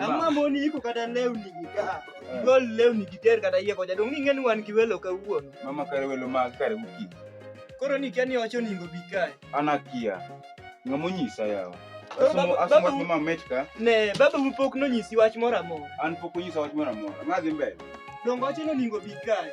Ama moni iko kata lewni gi ka. Eh. Gol lewni gi ter kata yie koja dong ingen wan gi welo ka wuon. Mama kare welo ma kare uki. Koro ni kiani wacho ningo bi kae. Ana kia. Ngamo nyisa yawa. Asoma kuma metka. Ne, baba mu pok no nyisi wach mora mora. An pok nyisa wach mora mora. Ngadhi mbele. Dongo wacho no ningo bi kae.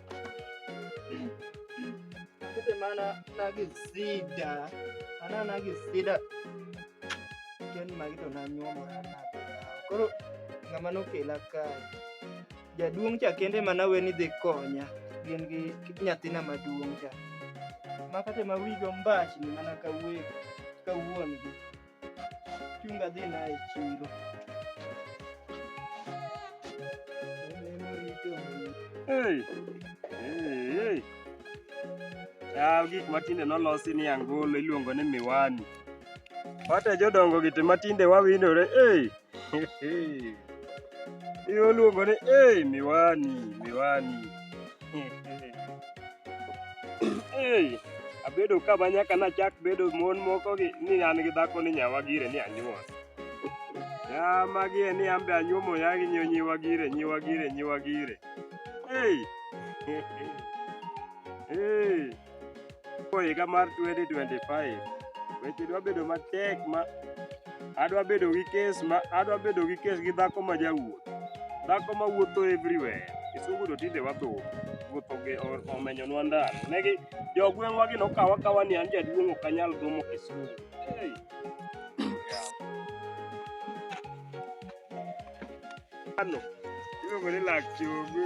Kete mana na gi sida. Mana na gi sida. Ken magi to na nyuomo na. Koro ng'ama nokela ka. Jaduong' cha kende mana we ni dhi konya. Gin gi nyathina maduong' cha. Ma kate ma wigo mbach ni mana ka wuon gi. Chunga dhi na e chiro. Hey. Hey. Yaw gik matinde nolosi ni angolo iluongo ni miwani. Wate jodongo gite matinde wawinore. Hey. Iluongo ni hey, miwani miwani hey, abedo ka ma nyaka nachak bedo mon moko gi ni an gi dhako ni nyawa gire ni anyuol ya magi e ni an be anyuomo ya gi nyo nyiwa gire nyiwa gire nyiwa gire hey. hey. Ko higa mar 2025 weche dwa bedo matek ma adwa bedo gi kes ma adwa bedo gi kes gi dhako ma jawuoth dhako ma wuotho everywhere kisungu to tinde watho wuotho gi omenyonwa ndalo negi jogweng'wa gi nokawa kawa ni an jaduong' ok anyal gomo kisungu hey. ano iluongo ni lak chogo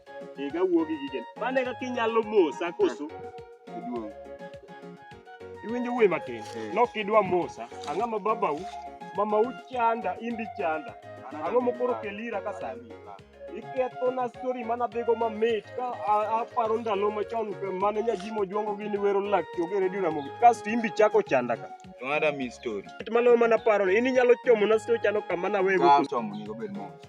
Iga wuo gi gige. Mane kaka inyalo mosa koso? Iduong. Iwinjo wuoyi matin. Eh. Nok idwa mosa. Ang'a ma babau, mamau chanda, imbi chanda. Ang'o mokoro kelira ka sani? ikethona stori mana dhigo mamit ka aparo ndalo machon mane nyajimo ojuongo gini wero lak choge redio ramogi kasto imbi chako chanda ka mano mana paro in inyalo chomo na stori chano kama nawe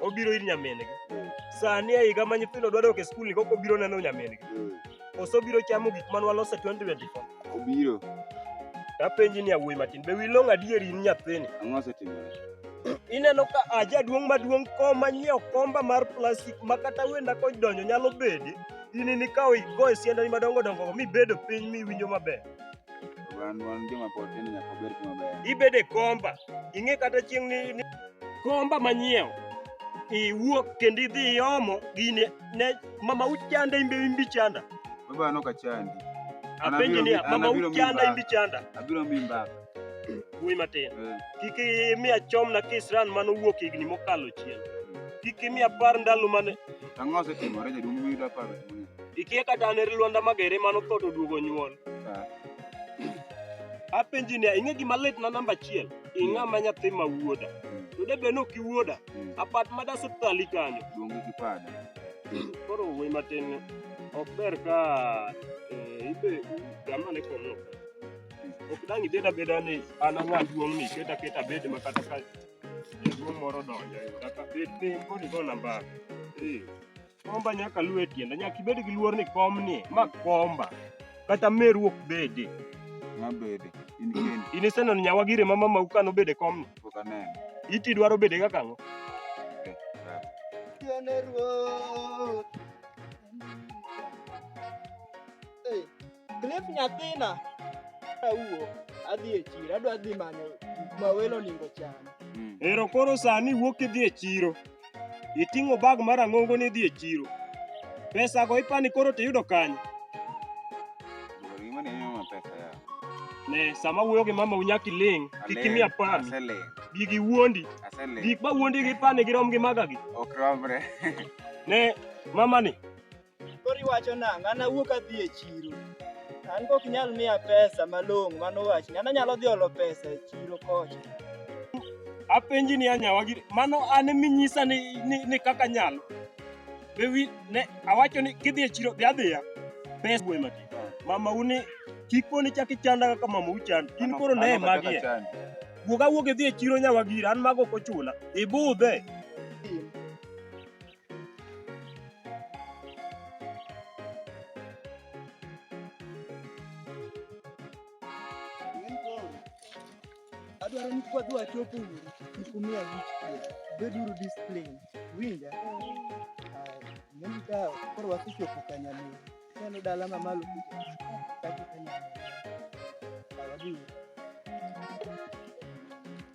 obiro ir nyamin-gi Mm. sani e higa ma nyithindo dwa dok e skul ni koko obiro neno nyamin-gi Mm. koso obiro chamo gik ma nwaloso e 2024 Obiro. tapenji ni awuoyi matin be wilong adieri in nyathini Ang'o osetimore? ineno ka aja duong' maduong' kom manyiewo komba mar plastik ma kata wenda kodonjo nyalo bede in nikawo igoye siandani madongo dongo mibedo piny miwinjo maber Ibede komba, ing'e kata chieng' ni, ni komba manyiewo iwuok kendo idhi iomo gini ne mama uchanda imbe imbi chanda. Baba no kachandi. Apenji ni mama uchanda imbi chanda. Abiro mi mbaka. Wuoyi matin. Eh. Kik imiya chom na kisran mano wuok higni mokalo chien. Kik imiya par ndalo mane. Ang'o osetimore jaduong' miyudo aparo. Ikia kata ne Lwanda Magere mano tho to duogo nyuol. Ah. Apenji ne ing'e gima lit na namba achiel. Ing'a ma nyathi ma wuoda. Mm. To de be nok iwuoda. Mm. Apat ma das tali kanyo. Duongi gi pada. Koro we matin ok ber ka eh, ibe gama ne kono. Mm. Ok dang ibeda beda ni an ang'a duong' ni keta keta bed ma kata ka jaduong' moro donjo. Kata bed ni kodi go namba. Eh. Komba nyaka luwe tienda, nyaka ibed gi luor ni kom ni ma komba. Kata meru ok bede. Ma bede. In kendi. In iseneno nyawa gire ma mama uka nobede kom ni. Pok aneno. Iti dwaro bede kaka ang'o? Tiene ruoth. Cliff nyathina awuo adhi e chiro adwa dhi manyo gik ma welo onego cham. Ero koro sani wuok idhi e chiro. Iting'o bag mar ang'ongo ni idhi e chiro. Pesa go ipani koro tiyudo kanye? Gima ni mama pesa ya. Ne sama wuoyo gi mama unyaki ling, kik imiya pami. Aseling. Gigi wuondi. Aseling. Gik ma wuondi gi pani girom gi maga gi. Ok romre. Ne mama ni Koro iwacho nang'o? An awuok adhi e chiro. An kok nyal miya pesa malong'o mano wach. An anyalo dhi olo pesa e chiro kocha. Apenji ni anyawa giri. Mano an minyisa ni, ni, ni kaka nyalo. Be wi, ne, awacho ni kidhi e chiro, dhi adhiya. Pesa gwe mati. Mama uni, kik poni chak ichanda kaka mama uchanda. In koro ne magie. Wuog awuog idhi e chiro nyawa giri, an mago ok ochuna. Ibudhe. adwaro ni kwadhi wachopo uru nikumia wich beduru discipline winja neno ka koro wasechopo kanyamio neno dala mamalo kuja kati kanyamio awadii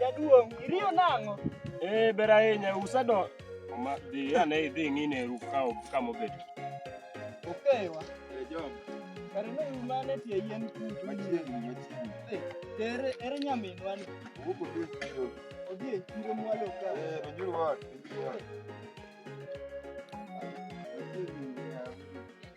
Jaduong', iriyo nang'o? Eh, ber ahinya, usedo. Ma dhi ane idhi ng'ine eru ka kama obet. Okewa. Eh, Jom. Kare ne uru mane tie yien kutu. Machiegni, machiegni. Eh, Ere ere nyaminwa ni. Wuok odhi e chiro. Odhi e chiro mwalo ka. Eh, Ronjuru ot, Ronjuru ot.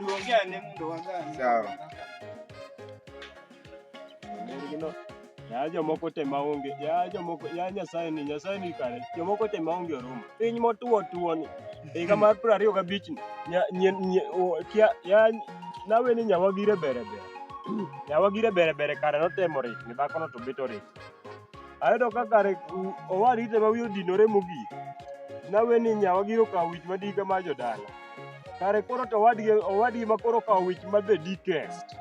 Niongea ni mtu wa gani? Sawa. Ningino. Ya jomoko te maonge, ya jomoko, ya Nyasaye ni, Nyasaye ni kare. Jomoko te maonge orumo. Piny motuo tuo ni. Higa mar piero ariyo gabich ni. Nya, nye, nye, o, kia, ya, nawe ni nyawagire bere bere. Nyawagire bere bere kare notemo rit, ni dhakono to bet orit. Ayudo ka kare owadi ite ma wiye odinore mogik. Nawe ni nyawa gi okawo wich ma dika ma jodala. Kare koro to owadgi owadgi ma koro okawo wich ma the deepest.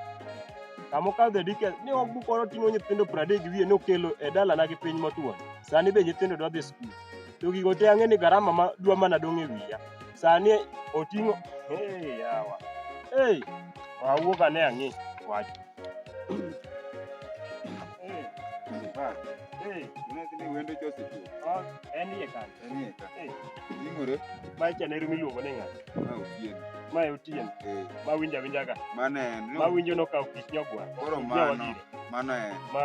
Kama okawo the deepest ni ok bukoro ting'o nyithindo pradek gi wiye nokelo e dalana gi piny motwo. Sani be nyithindo dwa dhi skul. To gigo te ang'e ni garama ma dwa mana dong' e wiya. Sani oting'o hey yawa. Hey, wawuok ane ang'e wach. Mae chane rumi luongo ni ng'ato. Mae Otieno. Ma winjo awinja ka. Mano en. Ma winjo nokawo kich nyogwa. Koro mano. Mano en. Ma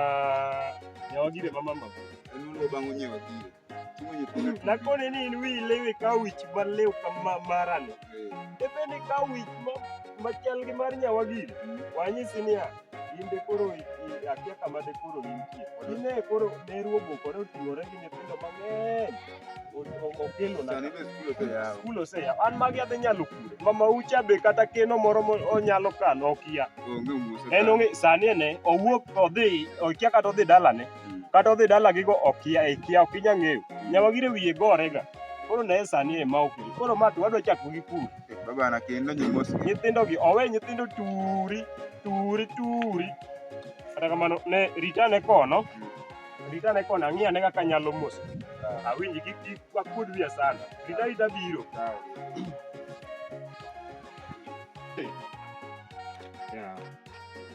nyawagire ma mama. En oluo bang' onyewa gire. Nakone ni in wi lewe ka wich ma lew kama marani. Ebe ni ka wich ma machal gi mar nyawa gini. Wanyisi niya, in de koro akia kama de koro intie. Ine koro ne ruogo koro oting'ore gi nyithindo mang'eny. Okelo na. Skul oseya. An magi adhi nyalo kure. Mama ucha be kata keno moro onyalo kano okia. En ong'e sani ene owuok odhi okia kata odhi dalane. Mm. kata odhi dalagigo okia e kia ok inya ng'eyo mm. nyawagire wiye gorega koro naye sani e ma okiri koro ma to wadwa chako gi pur babana kendo nyimos nyithindogi owe nyithindo turi turi turi kata kamano ne ritane kono mm. ritane kono ang'iya ne kaka nyalo mos ah. awinji kik kik wakuod wiya sana rita rita biro ah. Yeah.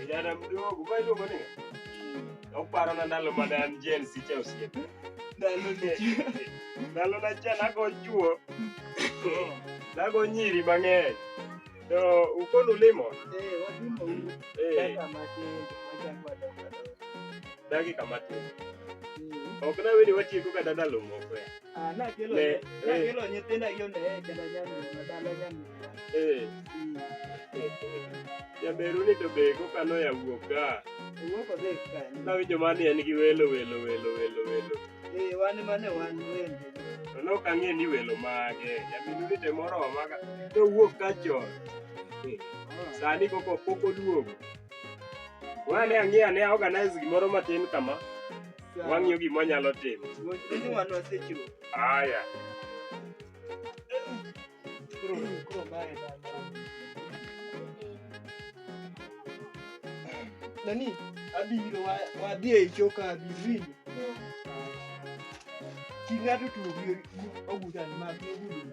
Kijana mdogo, ma iluongo ni ng'a? Uparo na ndalo mane an Gen Z cha osiepe. Ndalo ne. Ndalo na cha nago chuo. Nago nyiri mang'eny. To ukonu limo? Eh, wadimo uru. Eh, Kaka matin, wachako wadongo adongo. dakika matin. Mm. Ok nawinjo watieko kata ndalo moko ya. Ah, na kelo Ne, na eh. kelo nyithinda gi onde e kenda nyani madala nyani. Eh, jaberu ni to be kokano ya wuok ka. Wuok odhi kanye? Nawinjo mani en gi welo welo welo welo welo. Eh, wan mane wan wende. To ne ok ang'e ni welo mage. Jaberu ni to moro maga. To wuok ka chon. Eh, Sani koko pok oduogo. Wane ang'e ane organize gimoro matin kama. Wang'iyo gima nyalo timo. Ini wanu asechiwo. Haya. Kuro kuro mae bana. Nani? Abiro wa wadhi e choka abiri. King'ato tuo gi ogudan mag ogudu.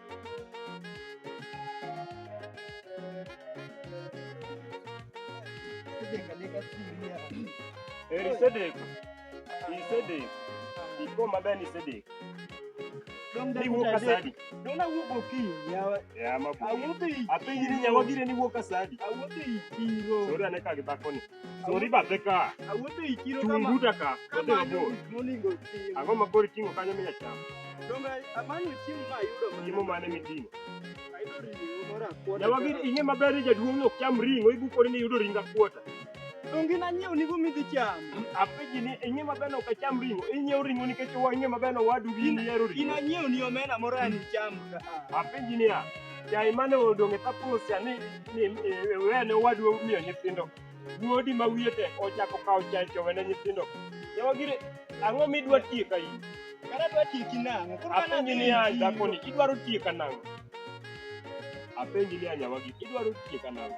Eri Sedek. I Sedek. Iko maber ni Sedek. Ni wuok asadi. Dona wuok okinyi yawa. Ya mabu. Awuotho i Apenji ni nyawa gire ni wuok asadi. awuotho i chiro. Sori ane ka gi dhako ni. Sori bathe ka. Awuotho e chiro kama. Chung' buta ka. Odhi mabor. Moningo chiemo. Ang'o ma koro iting'o kanyo minya chamo? Donge amanyo chiemo ma ayudo mana. Chiemo mane miting'o? Ayudo ring'o moro akwota. Nyawagi ing'e maber ni jaduong' ok cham ring'o, ibukori ni iyudo ring akwota. Donge nanyiew nigo midhi chamo. Apenji ni ing'e maber ni ok acham ring'o, inyiew ring'o nikech ing'e maber ni owadu gi in ihero ring'o. In anyiew ni omena moro an icham. Apenji niya, Yaye mane odong' e tapusia ni ni e, wene wadwa miyo nyithindo. Wuodi ma wiye tek ochako kawo chanjo wene nyithindo. Yawa gire ang'o midwa tieka in? Kara dwa tieki nang'o? Koro an Apenji adhi ni a tiyo. dhakoni idwaro tieka nang'o? Apenji ni a nyawagi idwaro tieka nang'o?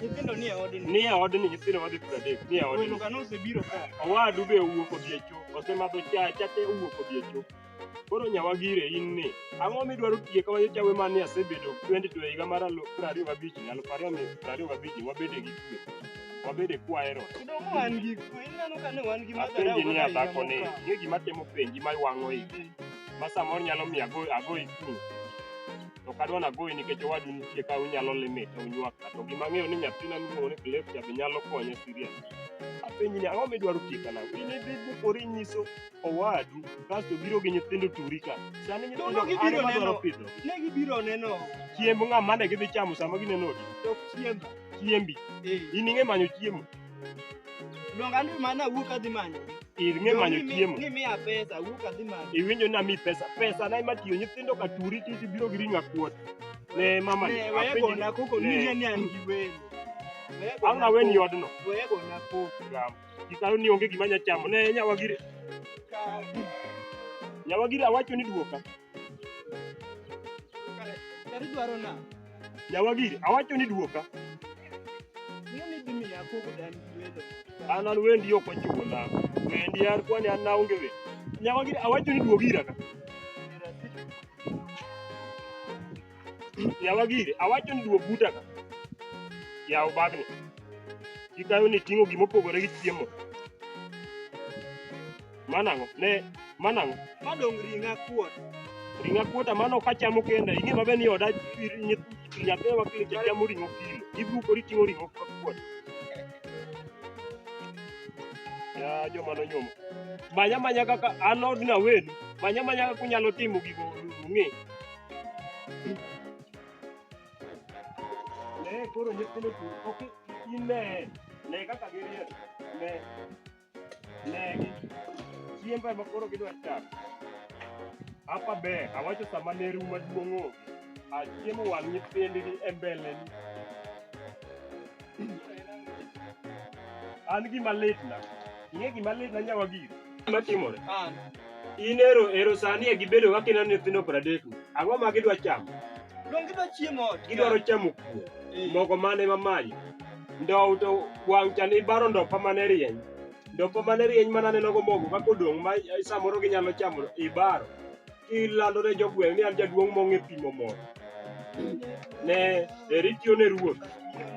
Nyithindo nie odni. Nie odni nyithindo wadhi piero adek. Nie odni. Welo kano osebiro ka. Owadu be owuok odhi e cho. Osemadho cha cha te owuok odhi e cho. Koro nyawa gire in ni. Ang'o midwaro tiye kawa nyocha we mane asebedo 22 higa mar alu- piero ariyo gabich ni alufu ariyo mi- piero ariyo gabich ni wabede gi kwe. Wabede kwaero. Kidong wan gi kwe. Ineno ka ne wan gi madharau. Apenji ni kaka adhako ni. higa mokalo. Ng'e gima temo penji ma iwang'o igi. Ma samoro nyalo miyo ago ago ikuru. to ok adwa nagoyi nikech owadu nitie ka unyalo lime to unywak ka to gima ang'eyo ni nyathina miluongo ni Clef cha be nyalo konye serious apenji ni ang'o midwaro tieka nang'o in idhi bukori nyiso owadu kasto biro gi nyithindo turi ka sani nyithindo Dono gibiro an ema dwaro neno. pidho Ne gibiro neno chiemb ng'a mane gidhi chamo sama gineno odi tok chiemba. chiembi Eh. in ing'e manyo chiemo Luonga ni mana wuok adhi manyo. Ir ng'e manyo chiemo. Ni miya pesa, wuok adhi manyo. Iwinjo na mi pesa. Pesa na ema tiyo nyithindo ka turi ti ti biro gi ring'o akuot. Ne mama. Ne wewe gona koko ni ni an gi wewe. Ang' na weni odno. Wewe gona koko. Ram. Kitaro ni onge gima nya chamo. Ne nyawa gire. Nyawa gire awacho ni duoka. Kari dwaro na. Jawagiri, awacho ni duoka. Miyo ni dimi ya koko dan wedo. An an wendi ok wachiwo na. Wendi yar kwani an naonge we. Jawagiri, awacho ni duogira ka. Jawagiri, awacho ni duog buta ka. Yaw bagni. Kikayo ni ting'o gimopogore gi chiemo. Mano ang'o? Ne, mano ang'o? Ma dong ring'a kuot. Ring'a kuota mano ok achamo kenda. Ing'e maber ni oda nyathi ma kile chamo ring'o kilo. Ibukori ting'o ring'o kuot. Ya joma nonyuomo. Manya manya kaka an od na wenu. Manya manya kaka unyalo timo gigo ung'e. Ne koro nyithindo ok in ne ne kaka giriek ne Negi. Chiemba ema koro gidwa chamo. Hapa ber, awacho sama ne ru maduong' onge. Achiemo wang' nyithindgi e mbeleni. An gima litna. Ing'e gima litna nyawa giri? Gima timore. An. In ero ero sani e gibedo ka kineno nyithindo pradek ni. Ang'o ma gidwa chamo? Donge gidwa chiemo ot? Gidwaro chamo kuon. Eh. Mogo mane ma maji. Ndow to wang' cha ni baro ndopa mane rieny. Ndopa mane rieny mana neno go mogo kaka odong' ma eh, samoro ginyalo chamo ibaro. Kilando ne jogweng' ni an jaduong' mong'e pimo mogo. Ne eri tiyo ne ruoth.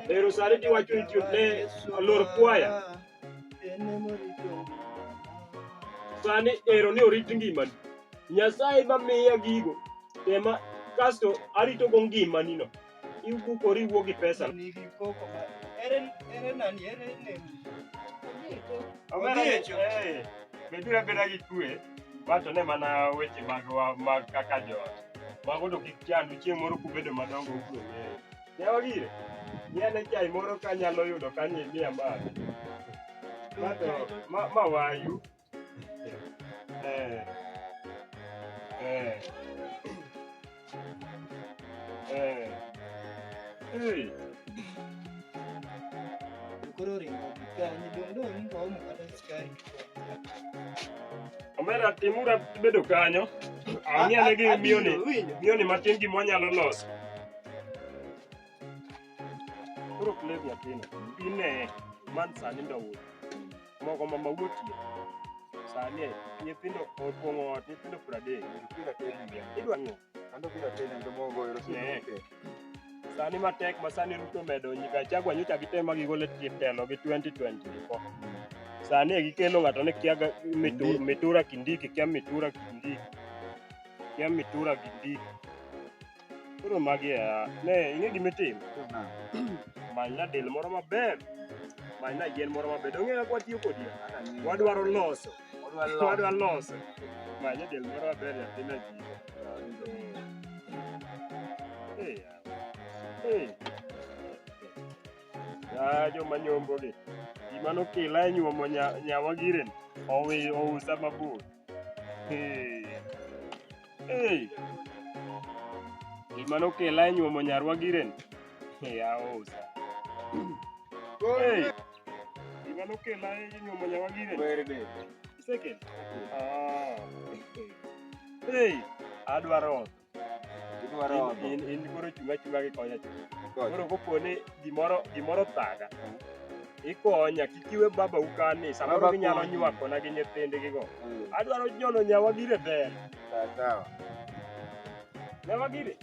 Ero sani tiwacho ni tiyo ne lor kwaya. sani ero ni orit ngimani nyasaye mamiya gigo ema kasto aritogo ngimanino ibukori iwuo gi pesa Odiecho. Eh, beduru abeda gi kwe wacho ne mana weche mag wa- mag kaka joot mago to kik chandu chieng' moro kubedo madongo ubiro ng'eyo Yawa gire, gi ane chai moro ka anyalo yudo ka ni miya mar. Ma to, ma, ma wayu. Eh. Eh. Eh. Hey. Koro ringo kanyi dong' dong' ringo omo kata skari. Omera timura bedo kanyo. Ang'e ane gi miyoni, Abiro, winjo. miyoni matin gima wanyalo loso. Koro play nyathino, ine man sani ndawuoyo. Mogo mama wuotie. Sani e, nyithindo opong'o ot, nyithindo pradek. Kila tena ndio. Idwa ng'o? Ando kila tena ndio mogo ero si. Ne. Sani matek ma sani Ruto medo nyika chagwa nyocha gitema gigole telo gi 2024. Sani e gikelo ng'ato ni kia ga- mitu- mitura kindiki, kia mitura kindiki. Kia mitura kindiki. Koro magi e a, ne ing'e gima itim. Many na del moro maber. Many na yien moro maber. Dong'e kaka watiyo kodi. Wadwaro loso. Wadwa loso. Many na del moro maber nyathi na ji. Eh, eh. Ya joma nyombo gi. Gima nokila e nyuomo nya- nyawa giren. Owi ousa mabor. Eh. Gima nokela e nyuomo nyarwa giren. Yaosa. Hey. Gima nokela e nyuomo nyarwa giren. Werde. Second. Ah. Hey. Adwaro. Idwaro. In in koro chunga chunga gi konya. Koro kopone gimoro gimoro thaga. ikonya kik iwe baba ukani samoro Baba ginyalo konyi. nywakona gi nyithindigigo Mm, adwaro nyono nyawa gire ber sawa sawa. nyawa gire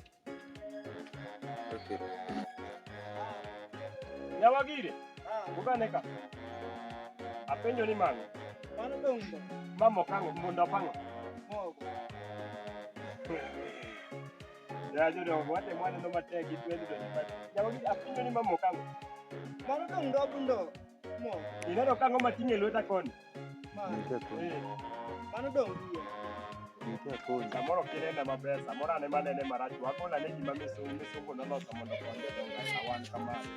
Okay. nyawa gire ugane ka apenjo ni mano Mano be undo. mama okango munda opango Mogo. Mano to ndobu ndo. Mo. Ineno ka ng'oma ting'e lweta koni. Ma. Nitie koni. Eh. Mano dong' wiye. Nitie koni. Samoro kinena maber, samoro ane manene marach. Wakola ne gima misungu misungu noloso mondo konde donga kawan kamano.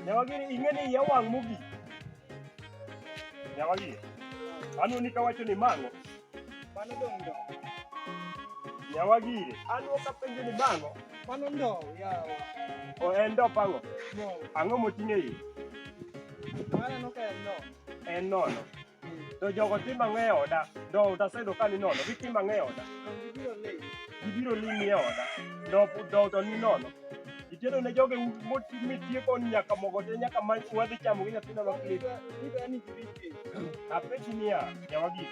Nyawagiri ing'e ni iya wang' mogik. Nyawagiri. Anu ni kawacho ni mang'o. Mano dong ndo. Nyawagiri. Anu kapenjo ni mang'o. Mano ndo yawa. O en ndo pango. Ang'o moting'e iye? Mano no ka en ndo. En nono. To jogo ti mang'e oda. Do utaseyudo ka ni nono. Giti mang'e oda. Gibiro limi e oda. Do do to ni nono. Itieno ne joge mitieko nyaka mogo te nyaka ma wadhi chamo gi nyathina ma klip. Apenji niya, nyawagi.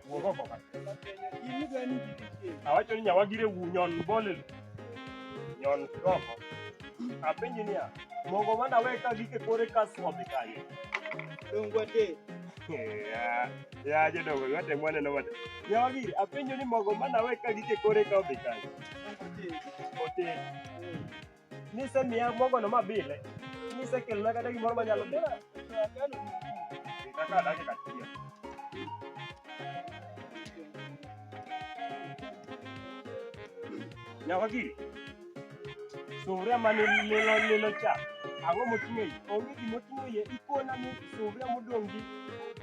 Wuog oko ka. Awacho ni nyawagire wunyon bolelo. Nyon Roho. Apenji niya, mogo mana we ka gike kore kas odhi kanye. Dongwa te. Ya, ya jodongo yote mwana no wate. Ya wagi, apenjo ni mogo mana we ka gike kore ka odhi kanye. Ote. Nise miya mogo no mabile. Nise kelna kata gimoro manyalo dela. Kaka dakika achiel. Nyawagiri, suvria mane lilo lilo cha, ang'o moting'o iye? Onge gima oting'o iye, ikona ni suvria modong' gi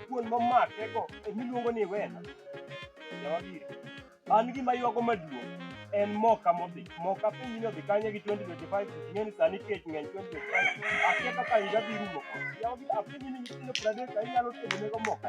kuon momakego emiluongo ni wena. Nyawagiri, an gima ywago maduong' en moka modhi. Moka pinyni odhi kanye gi 2025, ing'e ni sani kech ng'eny 2025. Akia kaka higa dhi rumo. Nyawagiri, apenji ni nyithindo 30 ka inyalo tedonego moka?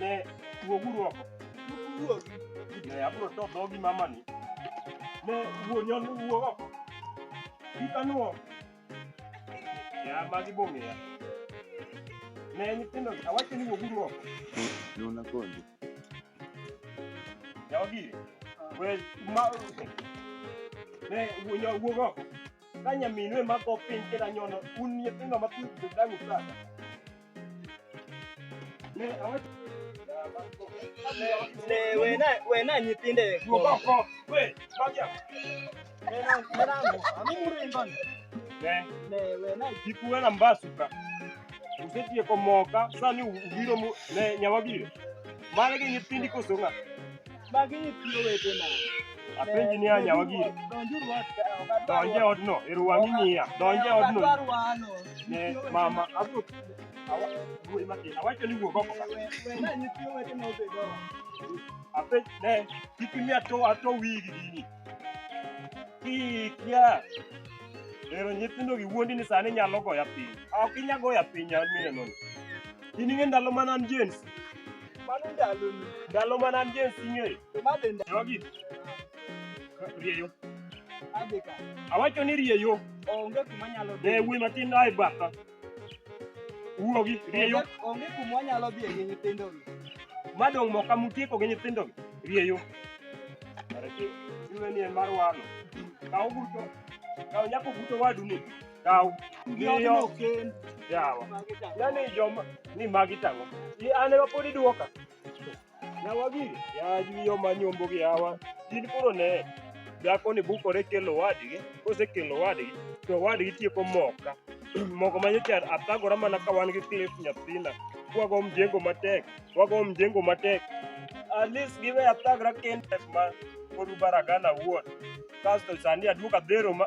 Ne, wuoguru oko. Ne, abiro to dhogi mamani. Ne, wuo nyon wuo oko. Kik anuo. Ya, magi bong'eya. Ne, nyithindo, awacho ni wuoguru oko. Nona konji. Jogi, we, ma, ne, wuo nyon wuog oko. Ka nyaminu ema go piny kendo anyono, un nyithindo ma piny dang' usada. wena nyithinde kikuwe na mbasuka usetie komoka sani ubiro ne nyawabiro mane gi nyithindi kosong'a Magi nyithi owetena. Apenji ni anya wagire. Donjuru ot. Donje odno, eru wang'i ng'iya. Donje odno. Ne mama abro awacho ni wuog oko ka. Apenj ne kik imiya to ato wigi gini. Kik ya. Ero nyithindo gi wuondi ni sani nyalo goya piny. Ok inya goya piny an mineno. In ing'e ndalo mana an jens. Mano ndalo ni. Ndalo mana an Gen Z ng'eyo. To ma be ndalo. Jogi. Rieyo. Adhi ka. Awacho ni rieyo. Onge kuma nyalo dhi. Ne wuoyi matin ae batha. Wuogi, rieyo. Onge kuma wanyalo dhi gi nyithindo gi. Madong' moka mutieko gi nyithindo gi. Rieyo. Kare tiyo. Iwe ni en mar wano. Kaw buto. Kaw nyako buto wadu ni. Kaw. Ng'iyo. Yawa. Nani joma ni magi tango. Ni an ema pod iduoka. Yawa gi. Ya ji yo manyombo gi yawa. Gin koro ne. Dhako ni bukore kelo wadgi. Kose kelo wadgi. To wadgi tieko moka. Moko manyocha athagora mana ka wan gi Cliff nyathina. Kwago mjengo matek. Kwago mjengo matek. At least give a thagra kende ma. Kodu baragana wuon. Kasto sani aduoka dhero ma.